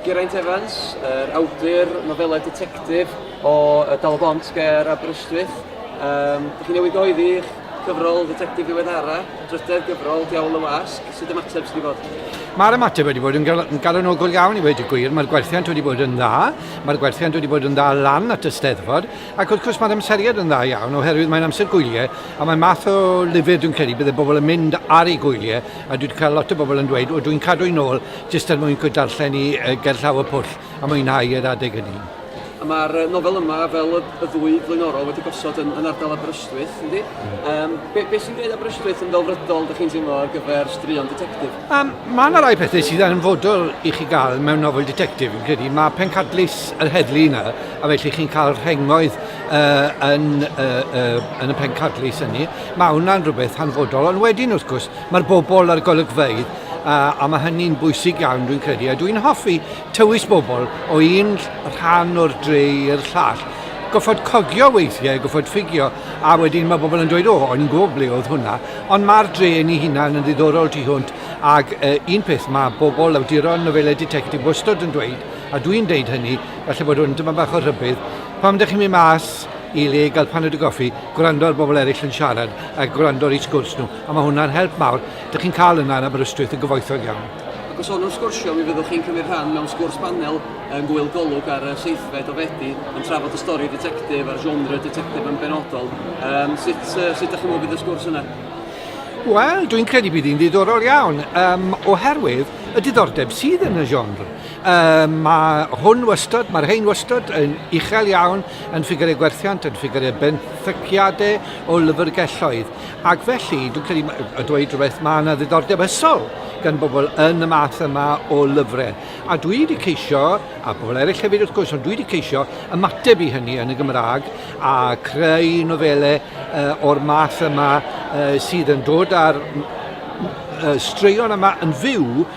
Geraint Evans, yr awdur nofelau detectif o y Dal Bont ger Aberystwyth. Um, chi newid oedd i'ch cyfrol detectif ddiweddara, drydedd gyfrol Diawl y Wasg, sydd ymateb sydd wedi bod? Mae'r ymateb wedi bod yn, gal yn galonogol iawn i wedi gwir, mae'r gwerthiant wedi bod yn dda, mae'r gwerthiant wedi bod yn dda lan at y steddfod, ac wrth gwrs mae'r amseriad yn dda iawn oherwydd mae'n amser gwyliau a mae math o lyfr dwi'n credu byddai bobl yn mynd ar ei gwyliau A dwi 'di cael lot o bobl yn dweud, o dwi'n cadw i'n ôl jyst er mwyn darllen i gerllaw y pwll a mwynhau yr adeg hynny. A mae'r nofel yma, fel y, y ddwy flaenorol, wedi gosod yn, yn ardal Aberystwyth, yndi? Mm. Um, be, be sy'n gwneud Aberystwyth yn ddelfrydol, da chi'n teimlo, ar gyfer straeon detectif? Um, mae yna rai pethau sydd yn fodol i chi gael mewn nofel detectif, yn credu. Mae pencadlys yr heddlu yna, a felly chi'n cael rhengoedd uh, yn, uh, uh, yn y pencadlys hynny. Mae hwnna'n rhywbeth hanfodol, ond wedyn wrth gwrs mae'r bobl a'r golygfeydd a, a mae hynny'n bwysig iawn dwi'n credu, a dwi'n hoffi tywys bobl o un rhan o'r dre i'r llall. Goffod cogio weithiau, goffod ffigio, a wedyn mae bobl yn dweud, o, o'n i'n gwybod ble oedd hwnna, ond mae'r dre yn ei hunan yn ddiddorol tu hwnt, ac uh, un peth mae bobl awduron nofelau detectif wastod yn dweud, a dwi'n deud hynny, falle bod hwn dyma bach o rhybydd, pam ydych chi'n mynd mas i le gael paned o goffi, gwrando ar bobl eraill yn siarad a gwrando ar eu sgwrs nhw. A mae hwnna'n help mawr. Dych chi'n cael yna yn Aberystwyth yn gyfoethog iawn. Ac os o'n sgwrsio, mi fyddwch chi'n cymryd rhan mewn sgwrs panel yn Gŵyl Golwg ar y seithfed o Fedi yn trafod y stori detectif a'r genre detectif yn benodol. Um, sut, uh, sut ydych chi'n meddwl bydd y sgwrs yna? Wel, dwi'n credu bydd hi'n ddiddorol iawn, um, oherwydd y diddordeb sydd yn y genre. Um, mae hwn wastad, mae'r hein wastad yn uchel iawn yn ffigurau gwerthiant, yn ffigurau benthyciadau o lyfrgelloedd. Ac felly, dwi'n credu y dweud rhywbeth, mae yna ddiddordeb ysol gan bobl yn y math yma o lyfrau. A dwi wedi ceisio, a bobl eraill hefyd wrth gwrs, ond dwi wedi ceisio ymateb i hynny yn y Gymraeg a creu nofelau uh, o'r math yma uh, sydd yn dod ar uh, straeon yma yn fyw